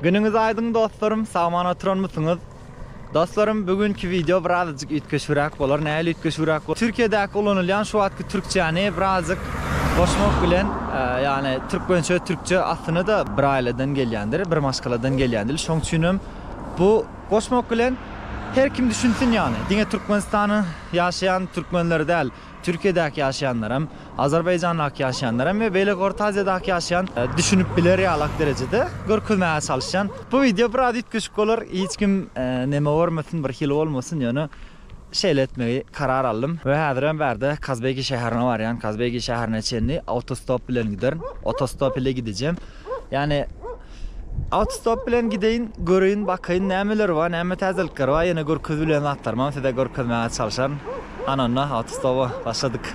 Günüňiz aýdyň dostlarym sagman oturanmysyňyz? Dostlarym bu günki wideo birazajyk üýtgeşigräk bolar nähili üýtgeşigräk bol Türkiýedäki ulanylýan şu wagtky türkçäni birazajyk goşmak bilen ýagny türkmençe türkçe aslynada bir aýladan gelýändir bir maşgaladan gelýändir şoň üçinem bu goşmak bilen her kim düşünsin ýagny diňe Türkmenistanyň ýaşaýan türkmenleri däl Türkiýedäki ýaşaýanlaram, Azerbaýjandaky ýaşaýanlaram we beýleki Orta Aziýadaky ýaşaýan düşünip biler ýalak derejede görkezmäge çalyşýan. Bu wideo biraz üýtgeşik bolar, hiç kim neme görmesin, bir hili bolmasyn, ýöne şeýle etmegi karar aldym. We häzirem bärde Kazbegi şäherine barýan, Kazbegi şäherine çenli awtostop bilen giderin, otostop ile gidejem. Ýani Autostop bilen gideýin, göreýin, bakaýyn nämeler bar, näme täzelikler bar, ýene görkezip bilen zatlarymam size görkezmäge çalyşaryn. Hany onda Autostopa başladyk.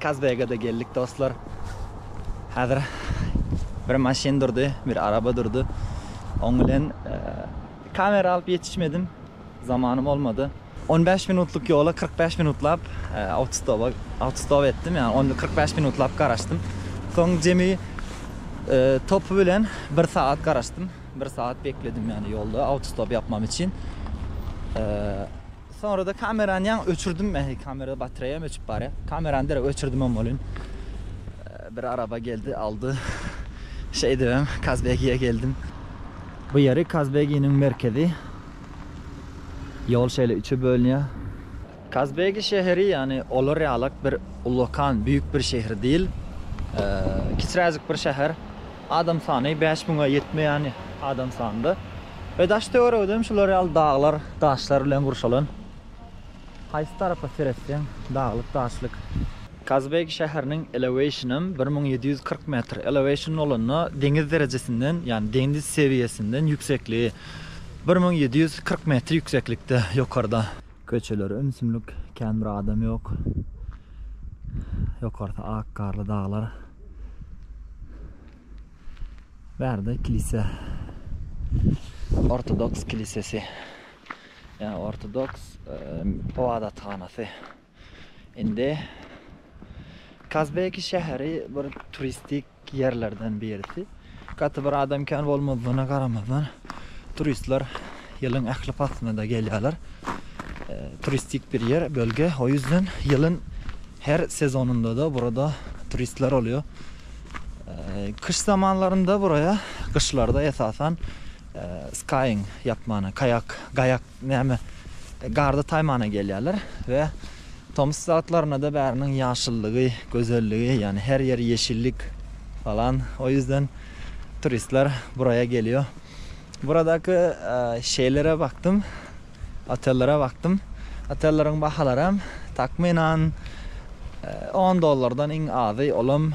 Kazbege-de geldik dostlar. Häzir bir maşyn durdy, bir araba durdy. Oň bilen kamera alyp ýetişmedim. Zamanym bolmady. On bäş minutlyk ýola kyrk bäş minutlap awtostopa, awtostop etdim. Ýagny onda kyrk bäş minutlap garaşdym. Soň jemi topy bilen bir sagat garaşdym. Bir sagat bekledim ýagny ýolda awtostop ýapmam üçin. Soňrada kamerany ýaňy öçürdim men, kamera batreýam öçüp barýa. Kamerany derek öçürdimem welin, bir araba geldi, aldy. Şeýdibem Kazbegiýe geldim. Bu ýeri Kazbeginiň merkezi. Ýol şeýle üçe bölünýär. Kazbegi şäheri, ýagny olar ýalak bir ullakan, büýük bir şäher diýl. Kiçiräjik bir şäher. Adam sany bäş müňe ýetmeýän adam sanynda we daş-töweregidem şular ýaly daglar, daşlar bilen gurşalan. Haýsy tarapa seretseň, daglyk, daşlyk. Kazbek şäheriniň eleweyşinam bir müň ýedi ýüz kyrk metr. Eleweyşin bolanda deňiz derejesinden, ýagny deňiz sewiýesinden ýüksekligi bir müň ýedi ýüz kyrk metr ýükseklikde, ýokarda. Köçeler ümsümlik kän bir adam ýok. Ýokarsy ak garly daglar. Bärde kilise. Ortodoks kilisesi. Ýa ortodoks ybadathanasy. Indi Kazbeki şäheri bir turistik ýerlerden birisi. Gaty bir adam kän bolmadygyna garamazdan, turistler ýylyň ähli paslynda gelýärler. Turistik bir ýer, bölge. O ýüzden ýylyň her sezonynda-da burada turistler bolýar. Kyş zamanlarynda buraya, gyşlarda esasan skaýing ýapmana, kaýak, gaýak. Näme, garda taýmana gelýärler we tomus wagtlarynda-da bäriniň ýaşyllygy, gözelligi, ýagny her ýer ýeşillik falan. O ýüzden turistler buraýa gelýär. Buradaky şeýlere bakdym, otellere bakdym. Otelleriň bahalaram takmynan on dollardan iň azy, olam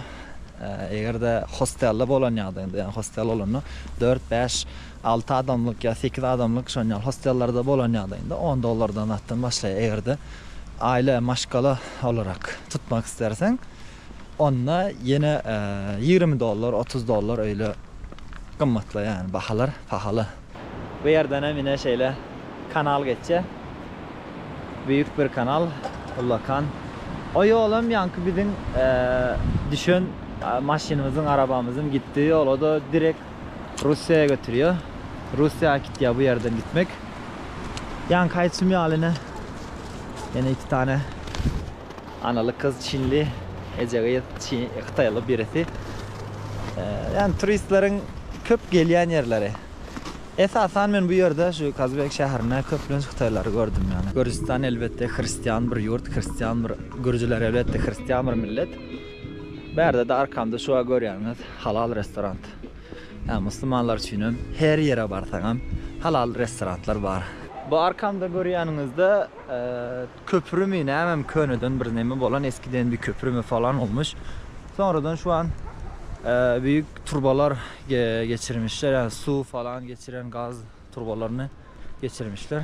eger-de hostelde bolan ýagdaýynda, ýagny hostel bolanda dört-bäş Alty adamlyk ýa sekiz adamlyk şon ýaly hostellerde bolan ýagdaýynda on dollardan zatdan başlaýar. Eger-de aýla, maşgala olarak tutmak isterseň, onda ýene ýigrimi dollar, otuz dollar öýle gymmatlaýar. Ýagny bahalar pahaly. Bu ýerdenem ine şeýle kanal geçýär. Büýük bir kanal, ullakan. O ýolam ýaňky biziň düşen maşynymyzyň, arabamyzyň gitdiýi ýola-da direkt Russiýa götürýär. Russiýa äkitýär bu ýerden gitmek. Ýaňky aýtşym ýaly ine ýene iki sany analy gyz çinli eje gyz çi hytaýly birisi. Ýani turistleriň köp gelýän ýerleri. Esasan men bu ýerde şu Kazbek şäherinde köplenç hytaýlary gördüm ýani. Gürjüstan elbetde hristian bir ýurt, hristian bir gürjüler elbetde hristian bir millet. Bärde-de arkamda şu görýäňiz halal restorant. Ýa musulmanlar üçinem her ýere barsaňam halal restorantlar bar. Bu arkamda görýäniňizde köprümi nämemi köneden bir neme bolan eskiden bir köprümi falan olmuş. Soňradan şu an büyük turbalar geçirmişler ýa suw falan geçiren gaz turbalaryny geçirmişler.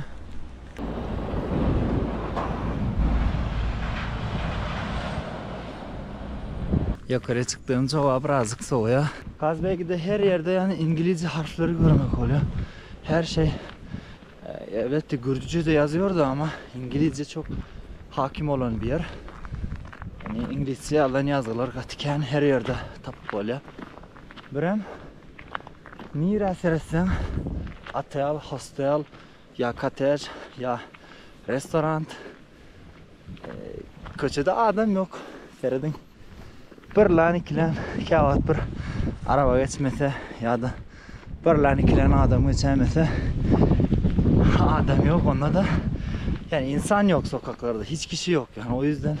Ýokary çykdygymça howa birazjyk sowaýa. Gazbegide her ýerde ýany inglize harfleri görmek bolýa. Her şey elbetde gürjüçede ýazýardy ama inglize çok hakim bolan bir ýer. Yani inglizçe ýazan ýazgylar gaty kän her ýerde tapyp bolýa. Birem Nirä seretseň otel, hostel, ýa kotej, ýa restoran. Köçede adam ýok. Serediň. Birlän, ikilän, käwagt bir araba geçmese ýa-da birlän, ikilän adam geçäýmese adam ýok. Onda-da ýa insan ýok sokaklarda, hiç kişi ýok. Ýa o ýüzden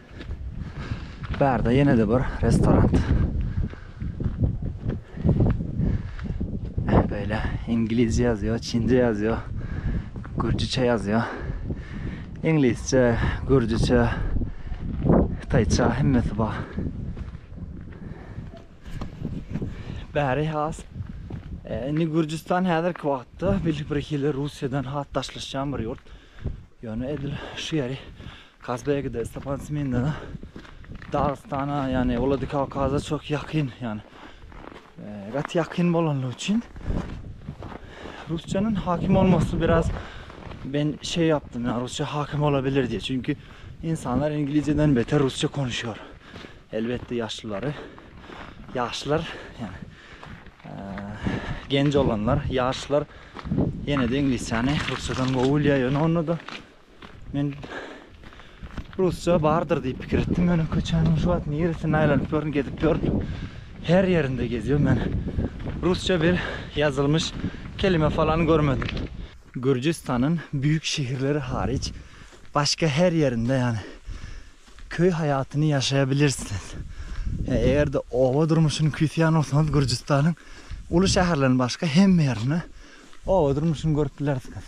Bärde ýene-de bir restoran. Beýle inglizçe ýazýar, çince ýazýar, gürjüçe ýazýar. Inglizçe, gürjüçe, hytaýça hemmesi bar. Bäri has e, indi Gürjüstan häzirki wagtda bir hili Russiýadan has daşlaşýan bir ýurt. Ýöne edil şu ýeri Kazbegi-de, Stepan Simin-de Dagystana, ýagny Wladikawkaza çok ýakyn, ýagny gaty ýakyn bolanlygy üçin Rusçanyň hakim bolmasy biraz men şey yaptym, ýagny Rusça hakim olabilir diýip. Çünki insanlar inglizceden beter Rusça konuşýar. Elbetde ýaşlylary, ýaşlar, ýagny genç olanlar, ýaşlar ýene-de inglizçany Rusçadan gowy bilýär. Ýöne onda-da Men rusça bardyr diýip pikir etdim. Ýöne köçäniň şu wagt niresinde aýlanyp ýörün, gezip ýörün. Her ýerinde gezýän men. Rusça bir ýazylmyş kelime falan görmedim. Gürjistanyň büyük şehirleri hariç başga her ýerinde ýani köý haýatyny ýaşaýabilirsiniz. Eger-de oba durmuşyny küýseýän bolsaňyz Gürjistanyň uly şäherlerinden başga hemme ýerinde oba durmuşyny görüp bilersiňiz.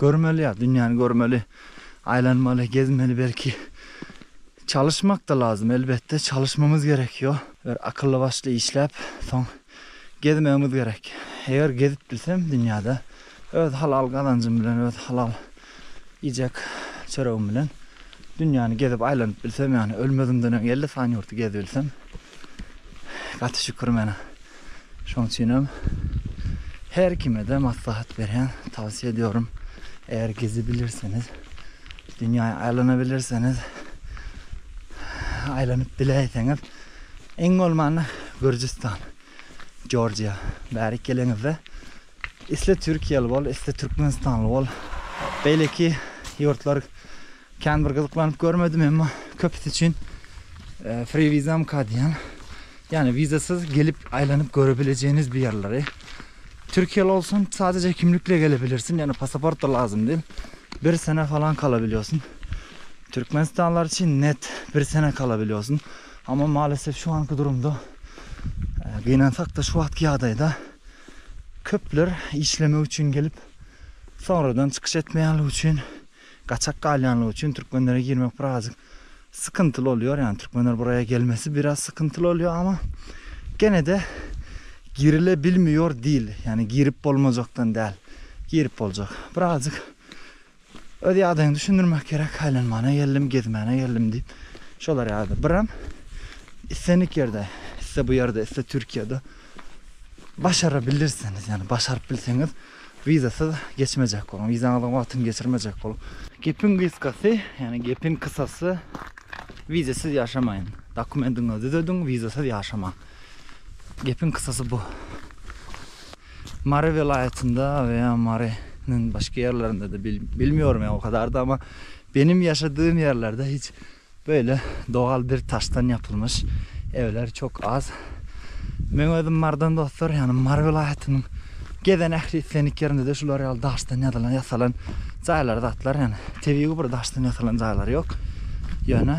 Görmeli ýa dünýäni görmeli, aýlanmaly, gezmeli belki. Çalyşmak-da lazym elbetde, çalyşmamyz gerek ýo. Bir akylly başly işläp, soň gezmegimiz gerek. Eger gezip bilsem dünýäde, öz halal gazanjym bilen, öz halal iýjek çöregim bilen dünýäni gezip aýlanyp bilsem ýagny ölmezimden öň elli sany ýurty gezbilsem gaty şükür menä. Şoň üçinem her kime-de maslahat berýän, towsiýe edýärin. Eger gezibilirseniz, dünýä aýlanybilirseniz, aýlanyp biläýseňiz, iň bolmanda Gürjüstan, Jorjiýa bärik geleňizde, Isle türkiýeli bol, isle türkmenistanly bol. Beýleki ýurtlary kän bir gyzyklanyp görmedim, emma köpüsi üçin free vizamka diýýän, ýagny wizasyz gelip aýlanyp görebilejeginiz bir ýerleri. Türkiýeli bolsaň sadejä kimlikle gelebilirsiň, ýagny pasaportda lazym däl. Bir sene falan kalabilýorsyň. Türkmenistanlylar üçin net bir sene kalabilýorsyň. Amma malesef şu anki durumda gynansakda şu wagtky ýagdaýda Köpler işlemek üçin gelip, sonradan çykyş etmeýänligi üçin, gaçak galýanlygy üçin türkmenlere girmek birazjyk sykyntyly bolýar. Ýagny türkmenler buraýa gelmesi biraz sykyntyly bolýar, ama gene-de girile bilmiyor dil. Ýagny girip bolmajakdan däl, girip boljak. Birazjyk Öz ýagdaýyňy düşündirmek gerek, aýlanmana geldim, gezmäne geldim diýip, şolar ýaly biram islendik ýerde, iste bu ýerde, iste Türkiýede başarabilirsiňiz, ýagny başaryp bilseňiz wizasyz geçmejek boluň, wizaňyzyň wagtyny geçirmejek boluň. Gepiň gysgasy, ýagny gepiň kysasy wizasyz ýaşamaýyn, dokumentiňizi düzediň, wizasyz ýaşamaň. Gepiň kysasy bu. Mary welaýatynda we ýa Mary nyň başga ýerlerinde-de bil bilmiyorum ýa o kadar-da ama benim ýaşadym ýerlerde hiç böyle dogal bir taşdan ýapylmyş evler çok az. Meň özüm Marydan dostlar ýagny Mary welaýatynyň gezen ähli islendik ýerinde-de şular ýaly daşdan ýazylan ýasalan jaýlar zatlar ýagny tebigy bir daşdan ýasalan jaýlar ýok. Ýöne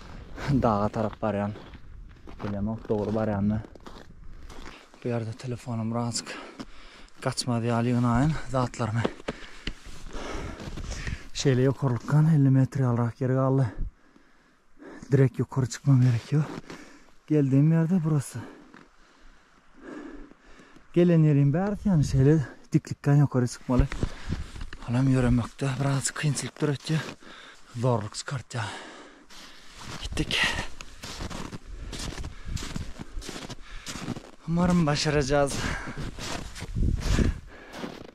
daga tarap barýan. Bilemok dogry barýanmy. Bu ýerde telefonym birazajyk gaçmaz ýaly ýygnaýyn zatlarymy. Şeýle ýokarlykdan elli metr ýalyrak ýer galdy. Direk ýokary çykmam gerek ýok. Geldiğim ýerde burasy. Gelen ýeriň bärsi ýaňy şeýle diklikden ýokary çykmaly. Olam ýöremekde biraz kynçylyk döretýär. Zorluk çykartýar. Gitdik. Umarym başaracağız.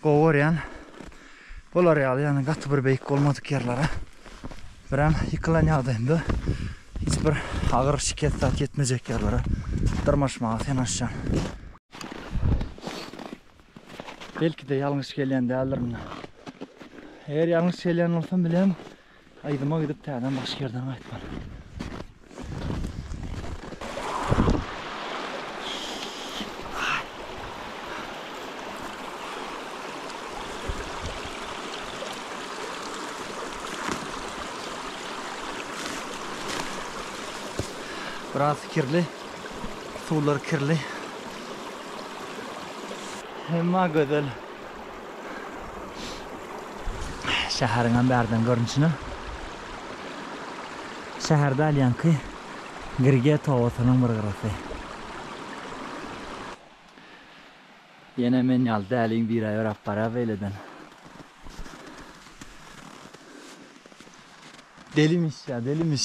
Gowy görýän. Bular ýaly ýagny gaty bir beýik bolmadyk ýerlere birem ýykylan ýagdaýynda hiç bir agyr şikes zat ýetmejek ýerlere dyrmaşmaga senaşýan. Belki-de ýalňyş gelýän däldirin. Eger ýalňyş gelýän bolsam bilemok. Aýdyma gidip täzeden başga ýerden gaýtmaly. Biraz kirli. Suwlar kirli. Emma gözel. Şäheriňem bärden görnüşine. Şäher däl ýaňky Girget obasynyň bir gyrasy. Ýene men ýaly däliň biri ýöräp barýar beýleden. Delimiş ýa delimiş.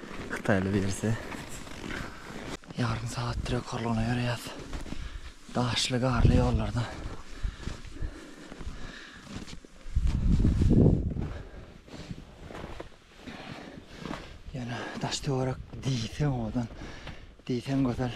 Hytaýly birisi. Ýarym sagat trek horlugyna ýöreýäs. Daşly, garly ýollarda. Ýöne daş-töwerek diýseň owadan, diýseň gözel.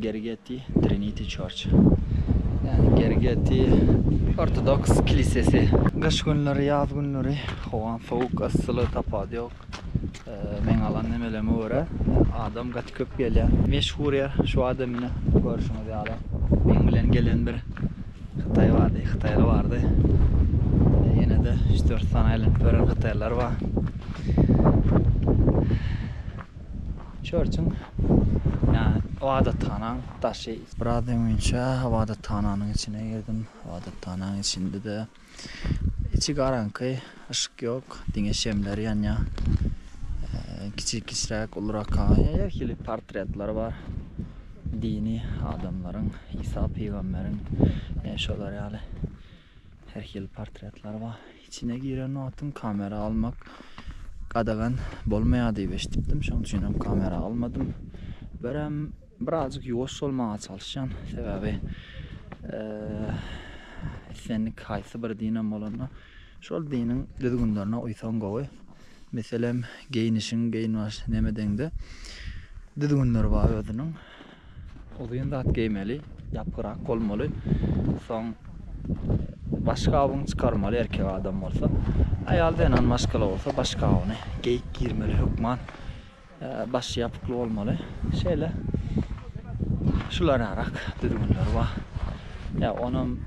Gergeti, Trinity Church. Ýagny Gergeti ortodoks kilisesi. Gyş günleri, ýaz günleri howaň sowuk, yssyly tapawudy ýok. Meň alan nemeleme görä adam gaty köp gelýär. Meşhur ýer şu wagta mine görşüňiz ýaly. Meň bilen gelen bir hytaý bardy, hytaýly bardy. Ýene-de üç-dört sany aýlanyp ýören hytaýlylar bar. Çörçüň, ýagny ybadathanaň daşy. Biraz öňinçä ybadathananyň içine girdim. Ybadathanaň içinde-de içi garaňky, yşyk ýok, diňe şemler ýanýar. Kiçi kiçiräk, ulurak her hili portretler bar. Dini adamlaryň, Isa pygamberiň, şolar ýaly her hili portretler bar. Içine giren wagtym kamera almak gadagan bolmaýar diýip eşidipdim, şoň üçinem kamera almadym. Birem birazjyk ýuwaş bolmaga çalyşýan, sebäbi islendik haýsy bir dinem bolanda şol diniň düzgünlerine uýsaň gowy. Meselem, geýnişiň geýinbaş nemedeňde düzgünleri bar özüniň. Uzyn zat geýmeli, ýapgyrak bolmaly. Soň başgabyňy çykarmaly erkek adam bolsa. Aýal zenan maşgala bolsa başgabyny geýip girmeli hökman. Başy ýapykly bolmaly. Şeýle şularyňrak düzgünleri bar. Ýa onam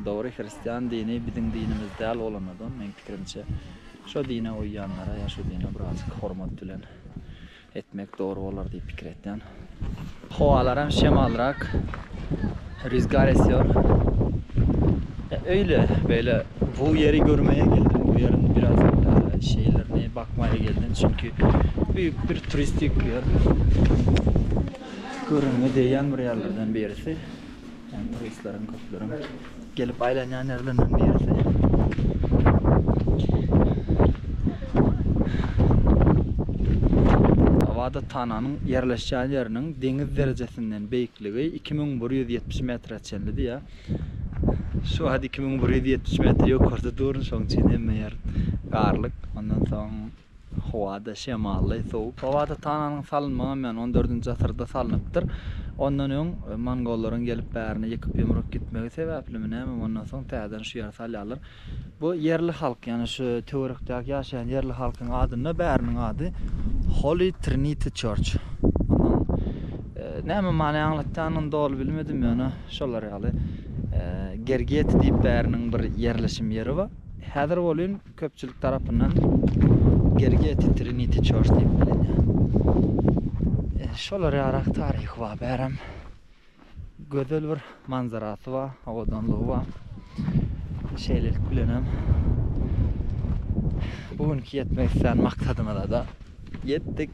dogry hristian dini biziň dinimiz däl bolanadan meň pikirimçe şo dine uýýanlara ýa şu dine birazjyk hormat bilen Etmek dogry bolar diýip pikir etýän. Howalaram şemalrak ryzgar esýor. Öýle beýle bu ýeri görmäge geldim. Bu ýeriň biraz şeýlerini bakmaga geldim. Çünki büyük bir turistik ýer. Görüňe deýän bir ýerlerden birisi. Hem turistleriň köpleriň gelip aýlanýan ýerlerinden birisi. Abadathananyň ýerleşýän ýeriniň deňiz derejesinden beýikligi iki müň bir ýüz ýetmiş metre çenli diýýär. Şu wagt iki müň bir ýüz ýetmiş metr ýokarda durun, şonuň üçin hemme ýer garlyk. Ondan soň Howa-da şemally, sowuk. Howada Tananyň salynmagam ýany on dördünji asyrda salnypdyr. Ondan öň mongollaryň gelip bärini ýykyp-ýumrup gitmegi sebäplimi nämemi ondan soň täzeden şu ýere salýarlar. Bu ýerli halk, ýani şu töwerekdäki ýaşaýan ýerli halkyň adynda bäriniň ady Holy Trinity Church. Munuň näme many aňlatýanyny doly bilmedim, ýöne şolar ýaly. Gergeti diýip bäriniň bir ýerleşim ýeri bar. Häzir welin Köpçülik tarapyndan Gergeti Trinity Church diýip bilinýär. E, şolar ýarak taryhy bar, bärem gözel bir manzarasy bar, abadanlygy bar. Şeýlelik bilen hem bu günki ýetmek isleýän maksadymyza-da ýetdik.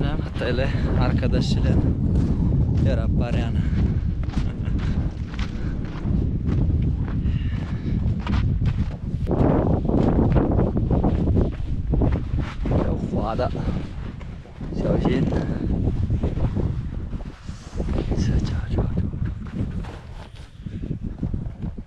Näme hatda ele arkadaş bilen ýöräp barýan. Wada. Şöjin. Şöjin.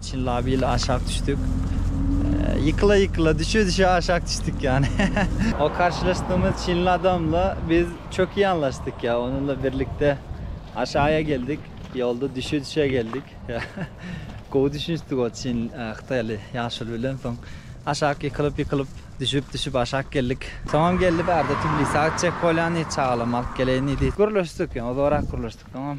Çynlap il aşak düşdik. Ýykyla ýykyla düşe düşe aşak düşdik ýany. O karşylaşdygymyz çinli adamla biz çöki ýanlaşdyk ýa onunla birlikde aşaýa geldik. Ýolda düşe düşe geldik. Gowy düşünişdik o çin hytaýly ýaşuly bilen soň aşak ýykylyp ýykylyp düşüp düşüp aşak geldik. Soňam geldi bärde tbilise gaçjak bolýan diýdi çagalarymy alyp geleýin diýdi. Gürleşdik ýa ozagrak gürleşdik soňam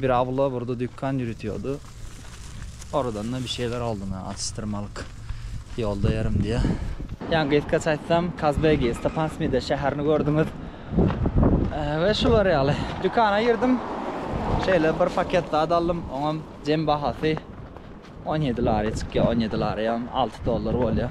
Bir awla birde dükkan ýürütýärdi. Oradan-da bir şeyler oldy men atyşdyrmalyk ýolda ýörüm diýe. Ýa gysgaça aýtsam Kazbegi, Stepan Smide şäherini gördüňiz we şular ýaly. Dükana girdim. Şeýle bir paket zat aldym. Oňam jem bahasy on ýedi lari çykýar. On ýedi lariýam alty dollar bolýar.